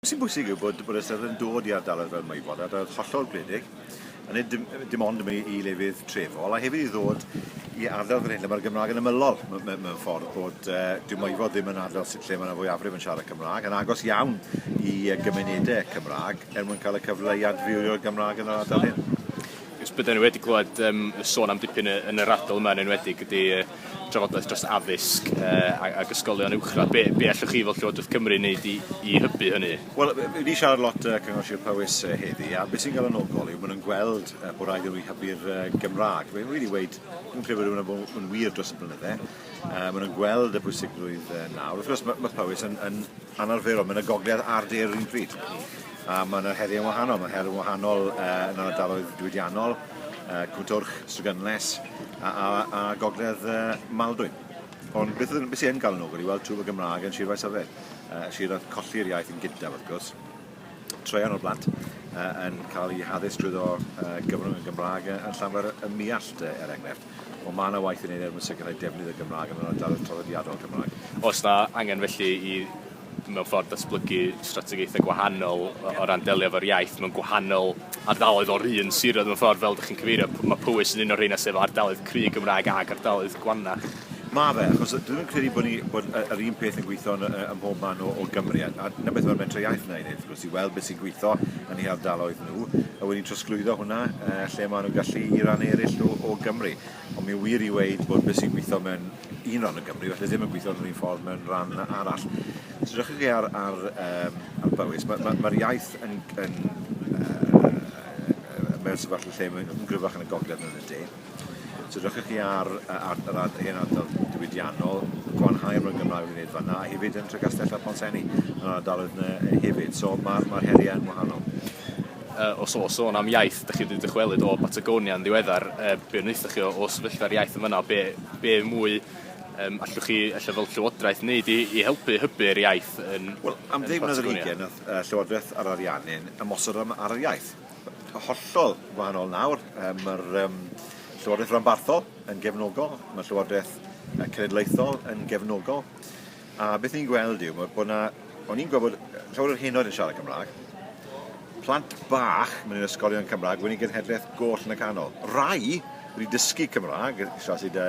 Be sy'n bwysig yw bod, bod ystod yn dod i ardaloedd fel Maewod, ardaloedd hollol gwledig, a nid dim, dim ond yn mynd i lefydd trefol, a hefyd i ddod i ardal fel hyn lle mae'r Gymraeg yn ymylol mewn ffordd bod uh, dyw Maewod ddim yn ardal sydd lle mae yna fwyafrif yn siarad Cymraeg, yn agos iawn i uh, gymunedau Cymraeg er mwyn cael y cyfle i adfywio'r Gymraeg yn yr ardal hyn. Ys byddwn ni wedi clywed um, sôn am dipyn yn yr ardal yma yn enwedig ydy uh, drafodaeth dros addysg uh, ac ysgolion uwchradd. Be, be allwch chi fel Llywodraeth Cymru wneud i, i hybu hynny? Wel, ni siarad lot uh, Cyngor Sir Powys uh, heddi, a beth sy'n galonogol yw maen nhw'n gweld uh, bod rhaid i nhw hybu'r uh, Gymraeg. Fe wedi weid, dwi'n credu bod hwnna'n bod yn wir dros y blynydde. Uh, maen nhw'n gweld y bwysigrwydd uh, nawr. Wrth gwrs, mae, mae Powys yn, yn anarferol, mae'n y gogledd a'r de'r un pryd. A mae yna heriau wahanol, mae her yn wahanol uh, yn ardaloedd diwydiannol, uh, Cwmtwrch, Strygynles a, a, a Gogledd uh, Maldwyn. Ond beth ydyn sy'n gael yn ogl i weld twf y Gymraeg yn Sir Faesyfed? Uh, sir oedd colli'r iaith yn gyntaf, wrth gwrs. Troian o'r blant uh, yn cael ei haddysg drwy ddo uh, gyfrwng y Gymraeg yn Llanfair y Miallt, uh, er enghraifft. Ond mae yna waith yn ei wneud er mwyn sicrhau defnydd y Gymraeg yn yr ardaloedd traddodiadol Cymraeg. Os na angen felly i mewn ffordd datblygu strategaethau gwahanol o ran delio efo'r iaith mewn gwahanol ardaloedd o'r un siroedd mewn ffordd fel ydych chi'n cyfeirio, mae Powys yn un o'r rheina sef ardaloedd cry Gymraeg ac ardaloedd Gwannach. Mae fe, achos dwi ddim yn credu bod, ni, bod yr un peth yn gweithio yn, ym mhob man o, o Gymru. A, a dyna beth mae'r Mentrau Iaith yna i wneud, wrth gwrs, i weld beth sy'n gweithio yn ei hardaloedd nhw, a wedyn trosglwyddo hwnna uh, lle maen nhw'n gallu i ran eraill o, o Gymru. Ond mae'n wir i weud bod beth sy'n gweithio mewn un ran o Gymru falle ddim yn gweithio yn yr un ffordd mewn ran arall. Os edrychwch chi ar, ar, um, ar Bowys, mae'r ma, ma iaith yn, yn uh, mewn sefyllfa lle mae'n gryfach yn y gogledd yn y de. Os edrychwch chi ar, ar, ar, ar hen ardal diwydiannol, gwanhau'r mewn Gymraeg yn gwneud fanna, a hefyd yn Tregastell a Ponsenni, yn yr ardaloedd yna hefyd. So mae'r ma heriau yn wahanol. Uh, os o sôn am iaith, Dach chi 'di dychwelyd o Batagonia yn ddiweddar, yy be' wnaethoch chi o o sefyllfa'r iaith yn fan'na, be' be' mwy yym allwch chi ella fel llywodraeth neud i i helpu hybu yr iaith yn Wel am ddim mlynedd ar hugen nath yy Llywodraeth yr Ariannin ymosod ar ar yr iaith. Yy hollol wahanol nawr yy ma'r yym Llywodraeth Ranbarthol yn gefnogol, ma' Llywodraeth yy Cenedlaethol yn gefnogol. A beth ni'n gweld yw bod 'na... o'n i'n gweld bod llawer o'r henoed yn siarad Cymraeg, plant bach mewn ysgolion Cymraeg wedi genhedlaeth goll yn y canol. Rai wedi dysgu Cymraeg, tra sy 'da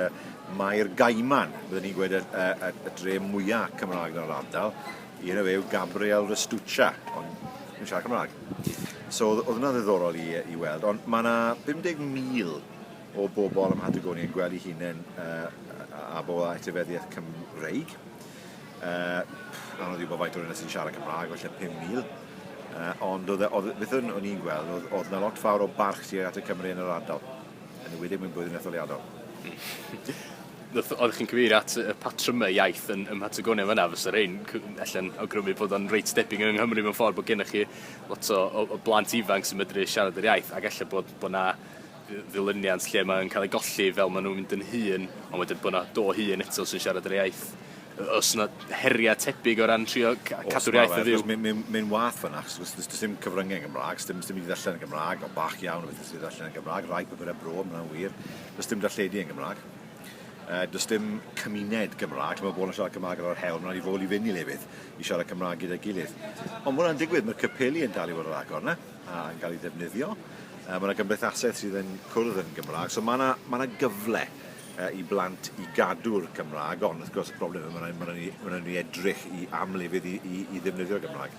Mair Gaiman, bydden ni'n gweud y dre mwya' Cymraeg yn yr ardal, un o fe yw Gabriel Restuccia, ond ddim yn siarad Cymraeg. So o'dd o'dd hwnna'n ddiddorol i yy i weld, ond ma' 'na 50,000 o bobl ym Mhatagonia yn gweld eu hunain a bobl â etifeddiaeth Cymreig. Anodd i wybod faint o'r yna sy'n siarad Cymraeg, felly 5,000. Ond e, beth o'n i'n gweld, oedd yna lot fawr o barch tuag at y Cymru yn yr ardal, yn y wedi mwyn blwyddyn etholiadol. Oeddech chi'n cyfeir at y patrymau iaith yn, ym Mhatagonia fyna, fysa rhain allan awgrymu bod o'n reit debyg yng Nghymru mewn ffordd bod gennych chi lot o, o, o blant ifanc sy'n medru siarad yr iaith, ac efallai bod, bod na ddilyniant lle mae'n cael ei golli fel maen nhw'n mynd yn hun, ond wedyn bod yna do hun eto sy'n siarad yr iaith. Os yna heriau tebyg o ran trio cadw'r iaith yn fyw? Mae'n mynd mynd wath fan ac os does dim cyfryngau yn Gymraeg, dim dim i ddallen yn Gymraeg, o bach iawn o beth sydd ddallen yn Gymraeg, rhai papurau bro, mae'n wir, does dim darlledu yn Gymraeg. Uh, does dim cymuned Gymraeg, mae bobl yn siarad Cymraeg ar yr hewl, mae'n rhaid i fod i fynd i lefydd i siarad Cymraeg gyda'i gilydd. Ond mae hwnna'n digwydd, mae'r capeli yn dal i fod yr agor na. a'n cael ei ddefnyddio. Mae yna gymdeithasau sydd yn cwrdd yn Gymraeg, so mae yna, mae yna gyfle i blant i gadw'r Cymraeg, ond wrth gwrs y problem yw mae'n rhaid, mae'n rhaid, mae'n rhaid ni edrych i amlefydd i, i, i ddefnyddio'r Gymraeg.